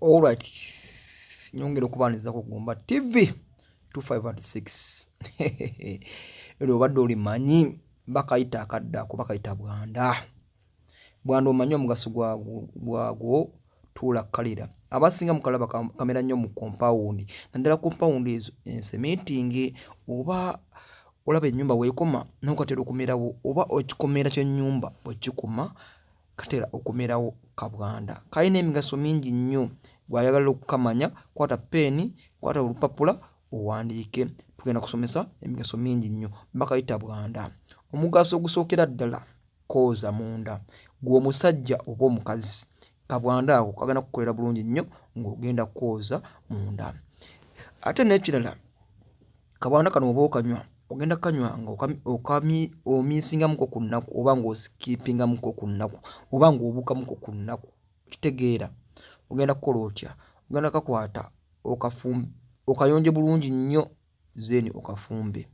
Alright, nyongera okubaniriza ku Gumba TV 256 era obadde olimanyi bakayita akadda kuba kayita bwanda bwanda omanyi omugaso gwagwo tuula kalira abasinga mukalaba kamera nnyo mu kompawundi naddala kompawundi ezo ensemitingi oba olaba ennyumba weekoma nokatera okumerawo oba okikomera kyenyumba bwekikuma katera okumerawo kabwanda kalina emigaso mingi nnyo gwayagala okukamanya kwata peeni kwata olupapula owandiike tugenda kusomesa emigaso mingi nnyo bakayita bwanda omugaso ogusookera ddala kooza munda gwe omusajja oba omukazi kabwanda ako kagenda kukolera bulungi nnyo ng'ogenda kooza munda ate n'ekirala Kabwana kano oba okanywa ogenda kanywa nga omiisingamuko ku nnaku oba ng'osikipingamuko ku nnaku oba ng'obuukamuko ku nnaku kitegeera ogenda kukola otya ogenda kakwata okayonje bulungi nnyo zeeni okafumbe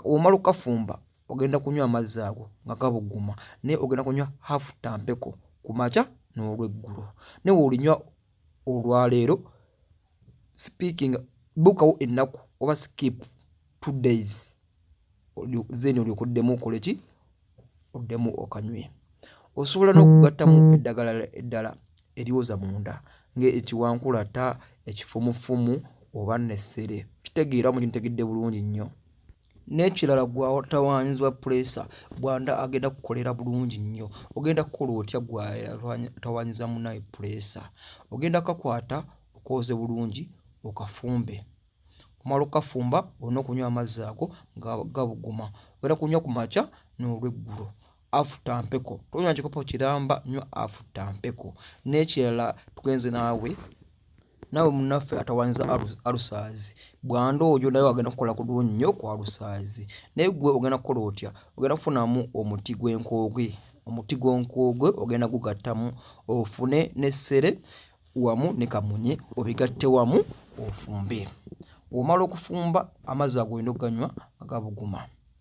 omala okukafumba ogenda kunywa amazzi ago nga gabuguma naye ogenda kunywa hafu tampeko ku makya n'olweggulo naye weolinywa olwaleero speaking bukawo ennaku oba skip two days then olyoka oddemu okole ki oddemu okanywe osobola n'okugattamu mm-hmm. eddagala eddala eryoza munda ngaekiwankulata ekifumufumu oba nessere kitegeera mu kintegedde bulungi nnyo n'ekirala gwatawaanyizibwa puleesa bwanda agenda kukolera bulungi nnyo ogenda kukola otya gwatawaanyiza munaye puleesa ogenda kakwata okooze bulungi okafumbe omala okafumba olina okunywa amazzi ago nga gabuguma ogenda kunywa ku makya n'olweggulo afuta mpeko tonywa kikopo kiramba nywa afuta mpeko n'ekirala tugenze naawe naawe munaffe atawanyiza alusaazi bwanda oyo naye agenda kukola kuliwo nnyo ku alusaazi naye gwe ogenda kukola otya ogenda kufunamu omuti gw'enkoogwe omuti gw'enkoogwe ogenda gugattamu ofune n'essere wamu ne kamunye obigatte wamu ofumbe omala okufumba amazzi ago olina okuganywa agabuguma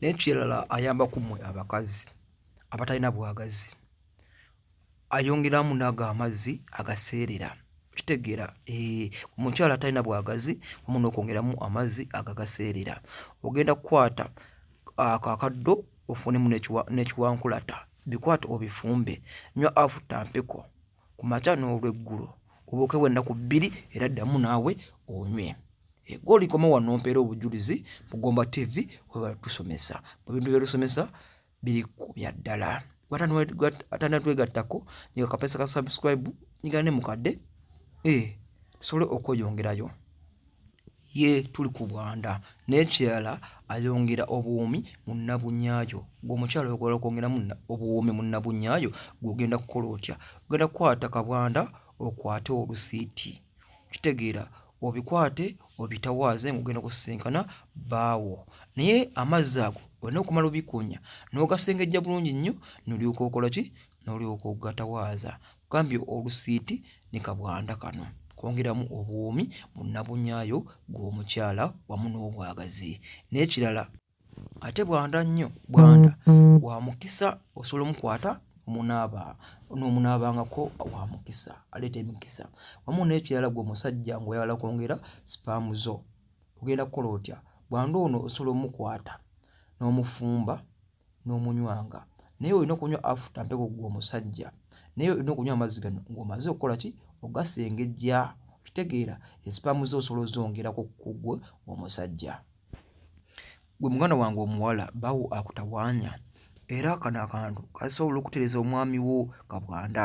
nekirala ayamba kumwe abakazi abatalina bwagazi ayongeramu nago amazzi agaseerera kitegeera omukyala atalina bwagazi omu nokwongeramu amazzi agagaseerera ogenda kukwata ako akaddo ofunemu nekiwankulata bikwate obifumbe nywa afuta mpeko ku makya n'olweggulo obuukewo ennaku bbiri era ddamu naawe onywe ego olikoma wano mpeera obujulizi mugomba tv webala tusomesa mu bintu byetusomesa biri ku bya ddala atanatwegattako nyega kapesa ka subscribe nyigane mukadde ee eh, tusobole okweyongerayo ye tuli ku bwanda n'ekirala ayongera obuwoomi mu nnabunyaayo ng'omukyala oyogola okwongeramu obuwoomi mu nnabunyaayo gw'ogenda kukola otya ogenda kukwata kabwanda okwate olusiiti kitegeera obikwate obitawaaze ng'ogenda kusisinkana baawo naye amazzi ago olina okumala obikunya n'ogasengejja bulungi nnyo nolyoka okola ki nolyoka ogatawaaza gambye olusiiti ne kabwanda kano kwongeramu obuwoomi mu nnabunyaayo gw'omukyala wamu n'obwagazi n'ekirala ate bwanda nnyo bwanda wa mukisa osobola omukwata omunaaba n'omunaabangako wa mukisa aleeta emikisa wamu n'ekirala gwe omusajja ng'oyagala kwongera sipaamu zo ogenda kukola otya bwanda ono osobola omukwata n'omufumba n'omunywanga naye olina okunywa afuta mpeko gwe omusajja naye olina okunywa amazzi gano ng'omaze okukola ki ogasengejja okitegeera esipaamu ze osobola ozongerako kugwe omusajja gwe muganda wange omuwala bawo akutawanya era kano akantu kasobola okutereza omwami wo kabwanda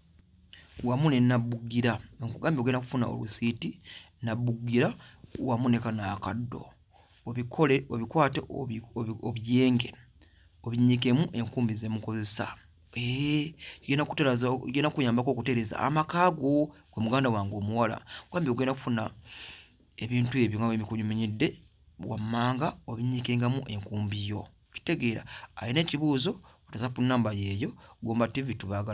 wamu ne nabbugira nkugambye ogenda kufuna olusiiti nabbugira wamu ne kano akaddo obikole obikwate obyenge obinyikemu enkumbi zemukozesa genda kuteraza genda kuyambako okutereza amaka go gwe muganda wange omuwala kwambi ogenda kufuna ebintu ebyo nga wemikunyuminyidde wammanga obinyikengamu enkumbi yo kitegeera alina ekibuuzo whatsapp namba yeeyo gomba tv tubagala